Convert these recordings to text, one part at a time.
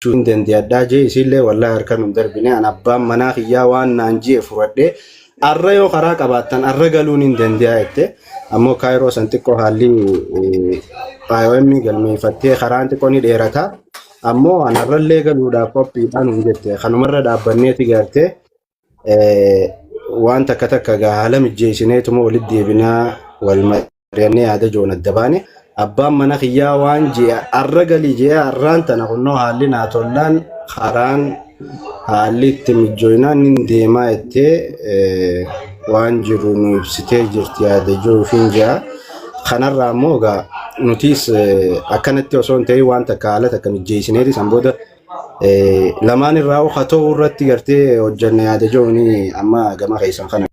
hin dandiyadhaa jee isiillee wallahi harkan hin darbine an abbaan manaa kiyyaa waan naan jee furadhee arra yoo karaa qabaattan arra galuun hin dandiyaa jette ammoo kaayiroo san xiqqoo haalli IOM galmeeffattee karaan xiqqoo ni dheerata ammoo an arrallee galuudhaaf qophiidhaan hin jette kanumarra dhaabbanneeti gartee waan takka takka gaa haala mijjeessineetuma walitti deebinaa wal mari'annee yaada joon adda baane abbaan mana kiyyaa waan ji'a arra galii ji'a arraan tana kunnoo haalli naa tollaan karaan haalli itti mijjooyinaan nin deemaa jettee waan jiru nu ibsitee jirti yaada joo ofiin ji'a kanarraa immoo gaa nutiis akkanatti osoo hin ta'in waan takka haala takka mijjeessineeti san booda Lamaan irraa oka ta'uu irratti gartee hojjanna yaada jooni amma gama keessan kana.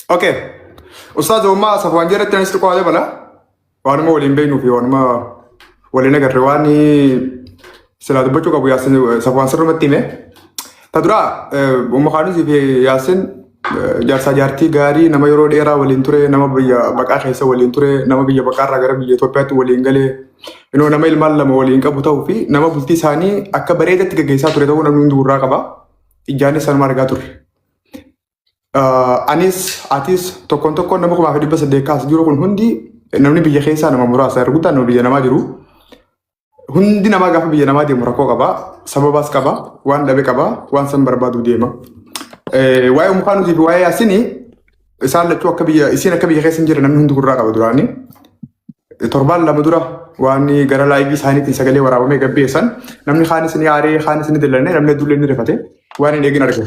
Okay. Ustaaz Ommaa Safwaan jedhatti anis xiqqoo haala bala. Waanuma waliin beeknuu fi waanuma waliin agarre waan silaa dubbachuu qabu yaa Safwaan sirrumatti hime. Ta duraa Ummu Kaanisii fi Yaasin jaarsaa jaartii gaarii nama yeroo dheeraa waliin ture nama biyya baqaa keessa waliin ture nama biyya baqaarraa gara biyya Itoophiyaatti waliin galee inoo nama ilmaan lama waliin qabu ta'uu fi nama bultii isaanii akka bareedatti gaggeessaa ture ta'uu namni hundi gurraa qaba. Ijaanis sanuma argaa ture. Anis atis tokkoon tokkoon nama kumaa fi dhibba saddeet kaas jiru kun hundi namni biyya keessaa nama muraasa erguutaan nama biyya namaa jiru. Hundi namaa gaafa biyya namaa deemu rakkoo qaba. Sababaas qaba. Waan dhabe qaba. Waan san barbaadu deema. Eh, Waa'ee umkaanuutii fi waa'ee yaasini isaan lachuu akka biyya isiin akka biyya keessa hin jirre namni hundi gurraa qaba duraanii. Torbaan lama dura waan gara laayivii isaaniitiin sagalee waraabamee gabbeessan namni kaanis ni aaree kaanis ni dillanne namni hedduullee ni rifate waan hin eegin argina.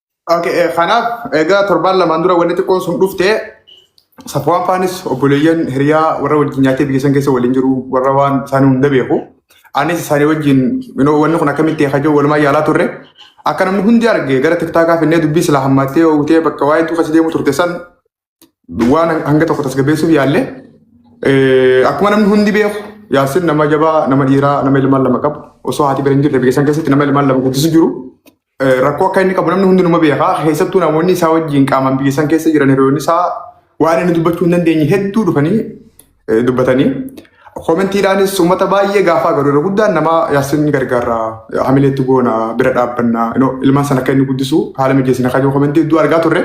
Okay, eh, kanaaf egaa torbaan lamaan dura wanni xiqqoon sun dhufte safuwaan faanis obboleeyyan hiriyaa warra wajjin nyaatee biyya san keessa waliin jiru warra waan isaanii hunda beeku. Anis isaanii wajjin you know, wanni kun akkamitti hajoo walumaa yaalaa turre. Akka namni hundi arge gara tiktaakaa finnee dubbii silaa hammaattee oogutee bakka waa'ee tuufa si deemu turte san waan hanga tokko tasgabbeessuuf yaalle akkuma namni hundi beeku yaasin nama jabaa nama dhiiraa nama ilmaan lama qabu osoo haati bira hin jirre biyya san keessatti nama ilmaan lama guddisu jiru rakkoo akka inni qabu namni hundi numa beeka keessattuu namoonni isaa wajjin qaamaan biyya san keessa jiran hiriyoonni isaa waan inni dubbachuu hin dandeenye hedduu dhufanii eh, dubbatanii koomentiidhaanis uummata baay'ee gaafaa garuu irra guddaan nama yaasin ni gargaarra eh, hamileetti goona bira dhaabbanna you know, ilmaan sana akka inni guddisu haala mijeessina kayyoo koomentii hedduu argaa turre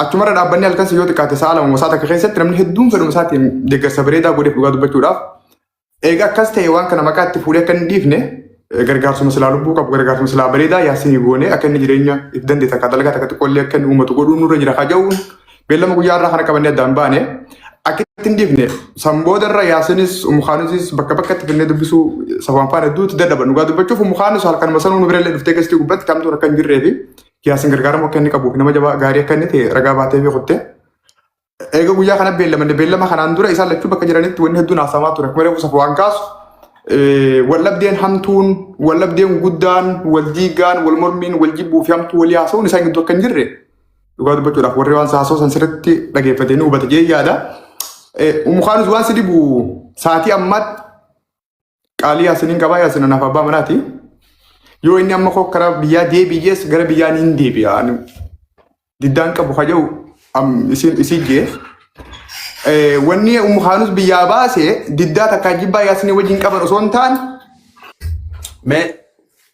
achumarra dhaabbanni halkan si yoo xiqqaate sa'a lama mosaa takka keessatti namni hedduun fedhuma isaatiin deeggarsa bareedaa godheef dhugaa dubbachuudhaaf eega akkas ta'e waan kana maqaa itti fuudhee akka hin dhiifne eh, gargaarsuma silaa lubbuu qabu gargaarsuma silaa bareedaa yaasin goone akka inni jireenya itti dandeessa akka dalagaa takka xiqqoollee akka inni uummatu godhuu nurra jira kajaa'uun Beellama guyyaa irraa kana qabannee addaan baane akkitti hin dhiifne san booda irra yaasinis umukaanusis bakka bakkatti finnee dubbisuu safaan faana duuti dadhaban dhugaa dubbachuuf umukaanus halkanuma sanuu nu birallee dhuftee keessatti gubbatti kamtuun akka hin jirree fi yaasin gargaaramu akka inni qabuuf nama jabaa gaarii akka inni ta'e ragaa baatee fi kuttee. Eega guyyaa kana beellamanne beellama kanaan dura isaan lachuu bakka jiranitti wanni hedduun haasamaa ture kuma reefu safaan kaasu wallabdeen hamtuun wallabdeen guddaan wal diigaan wal mormiin wal jibbuu fi hamtuu walii haasa'uun isaan gidduu akka hin jirre Dhugaa dubbachuudhaaf warri waan saasoo san sirriitti dhageeffatee ni hubate jee yaada. Umukaanus waan si dhibu saatii ammaatti qaalii yaasiniin qabaa yaasina naaf abbaa manaati. Yoo inni amma koo karaa biyyaa deebi'ees gara biyyaa ni deebi'a. Diddaan qabu haja'u isiin jee. Wanni umukaanus biyyaa baase diddaa takkaa jibbaa yaasinii wajjin qaban osoo hin taane Mee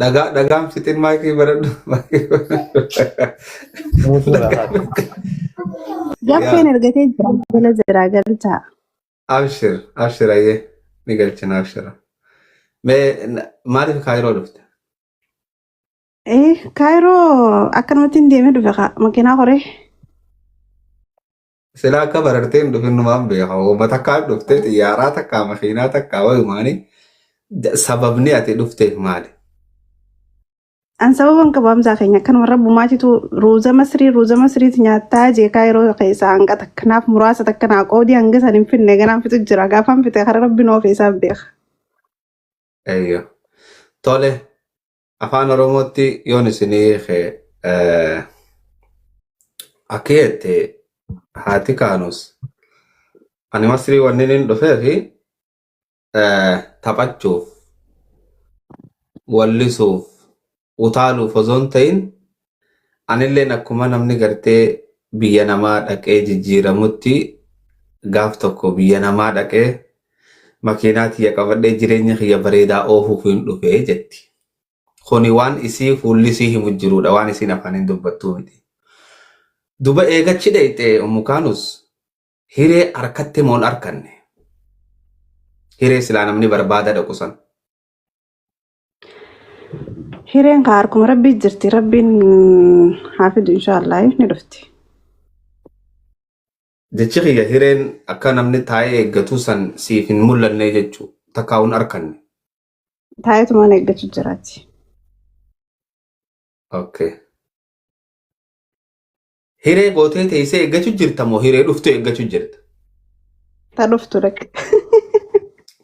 Dhagaa dhagaan fixin maakii baradhu. Mutu rafa. Gaffeen Yaa argatee jira. Jala jiraa galchaa. abshir abshir ayyee ni galchina abshira. Mee na- maaliif kaayiroo dhufte? Eh, Kaayiroo akkanumatti hin deemee dhufe kaa makiinaa horee. Silaa akka barartee hin dhufin numaan beeka. Hooma takkaan dhuftee xiyyaaraa takkaa makiinaa takkaa wayumaanii da- sababni ati dhufteef maali? An sababan qabaamsaa keenya akkanuma rabbumaatitu ruuza masrii ruuza masriis nyaattaa jeekaa yeroo keessa hanga takka naaf muraasa takka naa qoodii hanga san hin finne ganaan fixu jira gaafaan fixe kara rabbi noo feesaaf beeka. Eeyyoo. Tole Afaan Oromootti yoon isinii hiike eh, akka jette haati kaanus ani masrii wanni inni dhufee fi eh, taphachuuf wallisuuf utaaluuf osoo hin ta'in Anilleen akkuma namni gartee biyya namaa dhaqee jijjiiramutti gaaf tokko biyya namaa dhaqee makiinaa tiyya qabadhee jireenya kiyya bareedaa oofuuf hin dhufe jetti. Kuni waan isii fuulli isii himu jiruudha waan isiin afaaniin dubbattuu miti. Duba eegachi dhayxe Ummu Kaanus hiree harkatti moon arkanne. Hiree silaa namni barbaada dhaqu san. Hireen kaa harkuma rabbii jirti rabbiin haa fidu inshaallah ni dhufti. Jechi kiyya hireen akka namni taa'ee eeggatu san siif hin mul'anne jechuu takkaa hin arkanne. Taa'eetumaan eeggachuu jiraati. Okay. Hiree gootee teessee eeggachu jirta moo hiree dhuftu eeggachu jirta? Ta dhuftu dhaqe.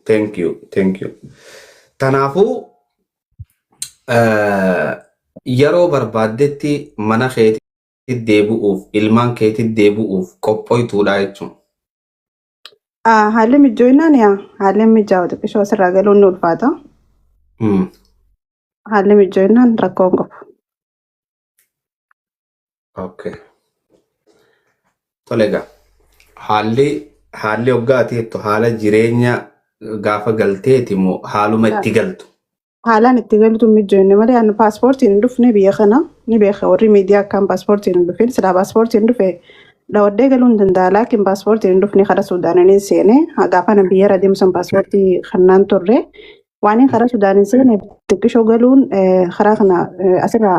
Thank you, thank you. Kanaafuu eh, yeroo barbaaddetti mana keetti deebi'uuf, ilmaan keetti deebi'uuf qophoituudha jechuun. Ah, Haalli mijjooinaan yaa haalli mijaa'u xiqqishoo asirraa galuun ni ulfaata. Hmm. Haalli mijjooinaan rakkoo hin qabu. Okay. Tole egaa haalli haalli hoggaa ati jettu haala jireenya gaafa galteeti moo haaluma itti galtu? Haalaan itti galtu mijoonne malee ani paaspoortiin hin dhufne biyya kana ni beeka warri miidiyaa akkaan paaspoortiin hin dhufin silaa paaspoortiin dhufe dhawadhee galuu hin danda'a laakiin paaspoortiin hin dhufne karaa suudaananiin seene gaafa na biyya irra deemsan paaspoortii kannaan turre waaniin karaa suudaaniin seene xiqqishoo galuun eh, karaa kana eh, asirraa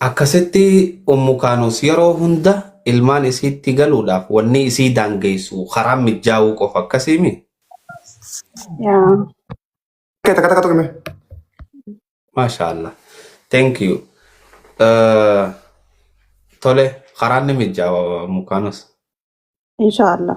Akkasitti Ummu Kaanuus yeroo hunda ilmaan isiitti galuudhaaf wanni isii daangeessu karaan mijjaawuu qofa akkasiimi? Yaa. Kee takka takka tuqime. Maashaallah. Thank you. Eh, Tole, karaan ni mijjaawa Ummu Kaanuus. Insha Allah.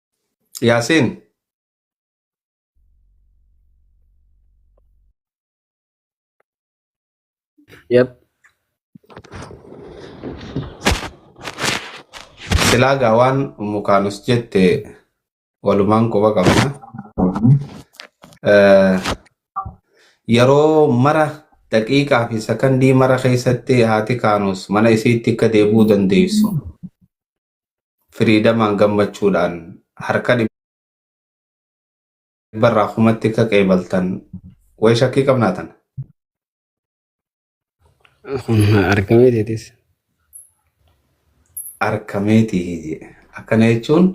Yaasin. Yep. Silaa gaa waan mukaanus jette walumaan quba qabna. Eh, Yeroo mara daqiiqaa fi sakandii mara keessatti haati kaanus mana isiitti akka deebi'uu dandeessu. firiidamaan gammachuudhaan harka dhibbarraa kumatti akka qeebaltan wayi shakkii qabnaa tana. Argamee deetis. Arkameetii jedhe. Akkana jechuun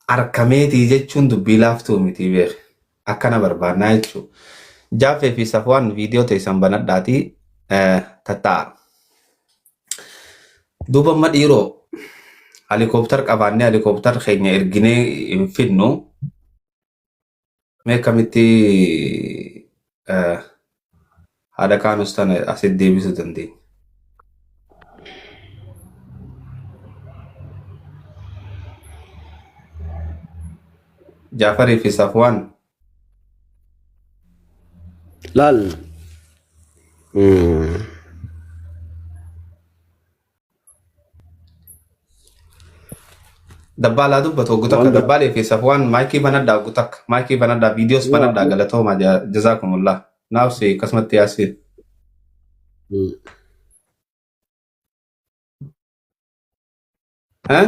arkameetii jechuun dubbii laaftuu miti beeku. Akkana barbaannaa jechuudha. Jaafee fi Safwaan viidiyoo teessan banadhaatii tatta'a. Duuba amma dhiiroo halikooptar qabaannee halikooptar keenya erginee hin fidnu mee akkamitti eh, haadha kaanus tana asitti deebisuu dandeenya. Jaafarii fi Safwaan Laal mm, Dabbaalaa dubbatu oggu takka waan biraa dabbaalee fi safwaan maayikii banadhaa oggu takka maayikii banadhaa viidiyoos ni banadhaa waamne. galatoomaa ja- jazaakumullah naafsi akkasumatti yaasiin Mm. Eh?